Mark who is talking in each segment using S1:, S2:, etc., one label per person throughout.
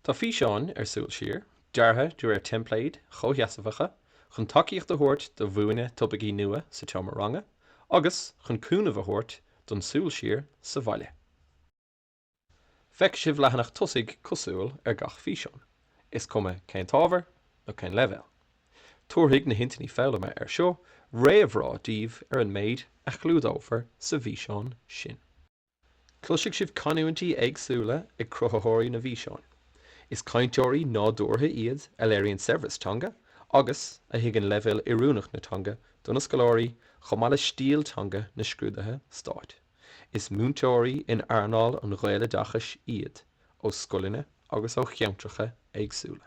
S1: Tá físeáin ar Súil Siar deartha de réir teimpléid chomhsheasmhaigh chun tacaíocht a thabhairt do mhúineadh topaicí nua sa tseomra ranga agus chun cúnamh a thabhairt don súil siar sa bhaile. Feicfidh sibh leathanach tosaigh cosúil ar gach físeán, is cuma cén t-ábhar nó cén leibhéal. Tabharfaidh na hintinní foghlama air seo réamhrá daoibh ar an méid a chlúdófar sa bhfíseán sin. Cloisfidh sibh canúintí éagsúla ag cruthaitheoirí na bhfíseán. Is cainteoirí nádúrtha iad a léiríonn saibhreas teanga agus a thuigeann leibhéal oiriúnach na teanga do na scoláirí chomh maith le stíl teanga na scrúduithe stáit. Is múinteoirí in earnáil an Ghaeloideachais iad ó scoileanna agus ó cheantracha éagsúla.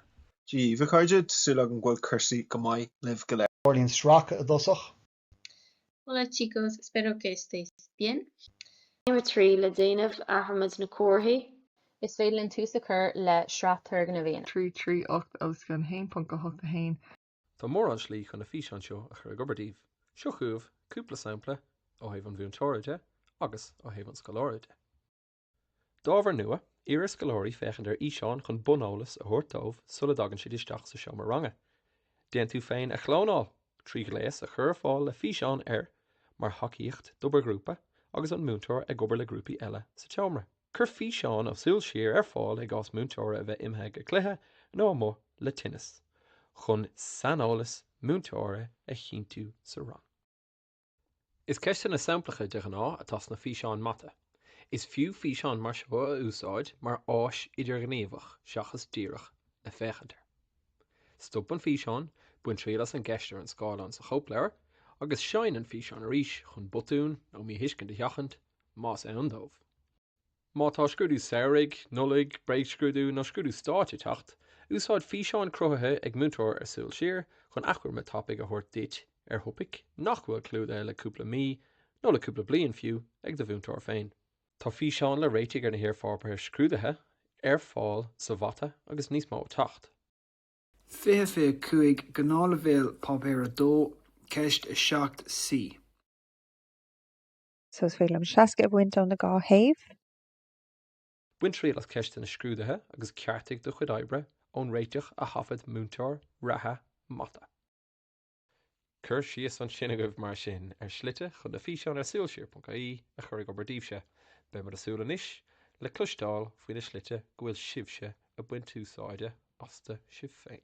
S1: Dia dhaoibh a chairde, tá súil agam go bhfuil cúrsaí go maith libh go léir. Tarraingíonn sracadh i dtosach. Hola chicos, espero que estéis bien. Céim 3, Le déanamh, athraímid na comharthaí. Is féidir linn tús a chur le sraith turgnamh. 3 3 8 os cionn 1.8 1. Tá mórán slí chun na físeáin seo a chur ag obair daoibh. Seo chugaibh cúpla sampla ó thaobh an mhúinteora de agus ó thaobh an scoláire de. D'ábhar nua, iarr ar scoláirí féachaint ar fhíseán chun buneolas a thabhairt dóibh sula dtagann siad isteach sa seomra ranga. Déan tú féin a chlónáil trí ghléas a chur ar fáil le físeán air mar thacaíocht d'obair ghrúpa agus an múinteoir ag obair le grúpaí eile sa tseomra. Cuir físeán ó Súil Siar ar fáil i gcás múinteora a bheith imithe go cluiche nó amuigh le tinneas, chun saineolas múinteora a chinntiú sa rang. Is ceisteanna samplacha, de ghnáth, atá sna físeáin mata. Is fiú físeán mar seo a úsáid mar áis idirghníomhach seachas díreach le féachaint air. Stop an físeán, bain triail as an gceist ar an scáileán sa chóipleabhar, agus seinn an físeán arís chun botúin nó míthuiscint a sheachaint, más ann dóibh. Má tá scrúdú samhraidh, Nollaig, bréagscrúdú nó scrúdú stáit ag teacht, úsáid físeáin cruthaithe ag múinteoir ar Súil Siar chun achoimre tapaidh a thabhairt duit ar thopaic nach bhfuil clúdaithe le cúpla mí, nó le cúpla bliain fiú, ag do mhúinteoir féin. Tá físeáin le réitigh ar na hiarpháipéir scrúduithe ar fáil sa Mhata agus níos mó ag teacht. 20, 25, Gnáthleibhéal, Páipéar 2, Ceist 7, C. So is féidir liom 60 a bhaint ó na dhá thaobh. Bain triail as ceisteanna scrúduithe agus ceartaigh do chuid oibre ón réiteach a thaifead múinteoir reatha mata. Cuir síos ansin agaibh mar sin ar shlite chun na físeáin ar súilsiar.ie a chur ag obair daoibhse. Beimid ag súil anois le cloisteáil faoi na slite go bhfuil sibhse ag baint úsáide astu sibh féin.